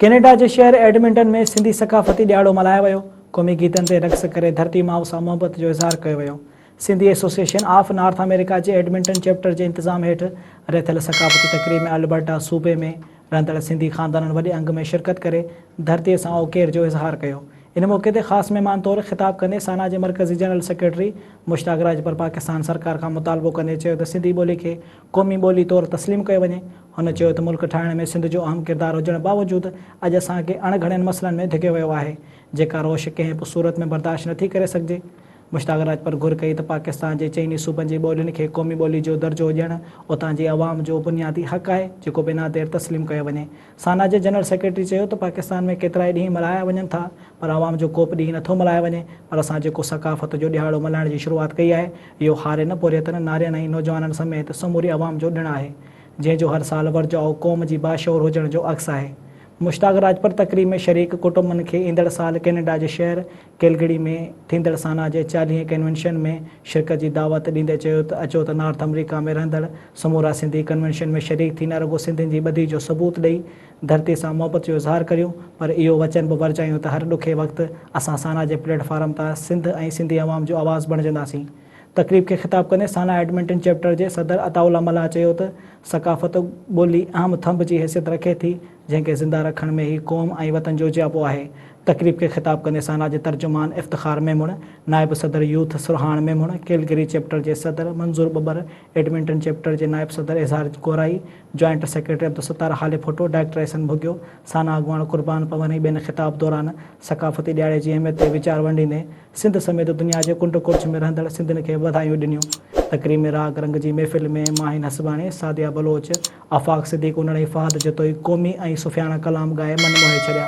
Canada جي شهر Edmonton ۾ Sindhi ثقافتي ڏهاڙو ملهايو ويو، قومي گيتن تي رقص ڪري ڌرتي ماء سان محبت جو اظهار ڪيو ويو. Sindhi association of North America جي ايڊمنٽن چيپٽر جي انتظام هيٺ رٿيل ثقافتي تقريب ۾ البرٽا صوبي ۾ رهندڙ سنڌي خاندانن وڏي انگ ۾ شرڪت ڪري ڌرتي سان اوڪير جو اظهار ڪيو. ان موقعي تي خاص مهمان طور خطاب ڪندي سانا جي مرڪزي جنرل سيڪريٽري مشتاق راڄپر پاڪستان سرڪار کان مطالبو ڪندي چيو ته سنڌي ٻولي کي قومي ٻولي طور تسليم ڪيو وڃي. هن چيو ته ملڪ ٺاهڻ ۾ سنڌ جو اهم ڪردار هجڻ باوجود اڄ اسان کي اڻ گهڻين مسئلن ۾ ڌڪيو ويو آهي، جيڪا روش ڪنهن به صورت ۾ برداشت نٿي ڪري سگهجي. مشتاق راجپر گهر ڪئي ته پاڪستان جي چئني صوبن جي ٻولين کي قومي ٻولي جو درجو ڏيڻ اتان جي عوام جو بنيادي حق آهي، جيڪو بنا دير تسليم ڪيو وڃي. سانا جي جنرل سيڪريٽري چيو ته پاڪستان ۾ ڪيترائي ڏينهن ملهايا وڃن ٿا پر عوام جو ڪوبه ڏينهن نٿو ملهايو وڃي پر اسان جيڪو ثقافت جو ڏهاڙو ملهائڻ جي شروعات ڪئي آهي اهو هارين، پورهيتن، نارين ۽ نوجوانن سميت سموري عوام جو ڏڻ آهي جنهن جو هر سال ورجائو قوم جي باشعور هجڻ جو عڪس آهي. مشتاق راجپر تقريب ۾ شريڪ ڪٽنبن کي ايندڙ سال ڪينيڊا جي شهر ڪيلگڙي ۾ ٿيندڙ سانا جي چاليهين ڪنوينشن ۾ شرڪت جي دعوت ڏيندي چيو ته اچو ته نارٿ آمريڪا ۾ رهندڙ سمورا سنڌي ڪنوينشن ۾ شريڪ ٿي نه رڳو سنڌين جي ٻڌي جو ثبوت ڏئي ڌرتي سان محبت جو اظهار ڪريون پر اهو وچن به ورجايون ته هر ڏکي وقت اسان سانا جي پليٽ فارم تان سنڌ ۽ سنڌي عوام جو آواز بڻجنداسين تقريب کي خطاب ڪندي سانا ايڊمنٽن چيپٽر جي صدر عطاء الله ملاح چيو ته ثقافت ٻولي اهم ٿنڀ جي حيثيت رکي ٿي جنهن کي زنده رکڻ ۾ هي قوم ۽ وطن جوجياپو آهي. تقريب کي خطاب ڪندي سانا جي ترجمان افتخار ميمڻ، نائب صدر youth Sarhan Memon, Calgary chapter جي صدر منظور ٻٻر، ايڊمنٽن چيپٽر جي نائب صدر Izhar Gorai, joint secretary Abdul Sattar Halepoto, director Ahsan ڀڳيو، سانا اڳواڻ قربان پون ۽ ٻين خطاب دوران ثقافتي ڏياڙي جي اهميت تي ويچار ونڊيندي سنڌ سميت دنيا جي ڪنڊ ڪڙڇ ۾ رهندڙ سنڌين کي وڌايون ڏنيون. تقريب ۾ راڳ رنگ جي محفل ۾ ماهين هسباڻي، سعديه بلوچ، آفاق صديق انڙ ۽ فهد جتوئي قومي ۽ صوفياڻا ڪلام ڳائي من موهي ڇڏيا.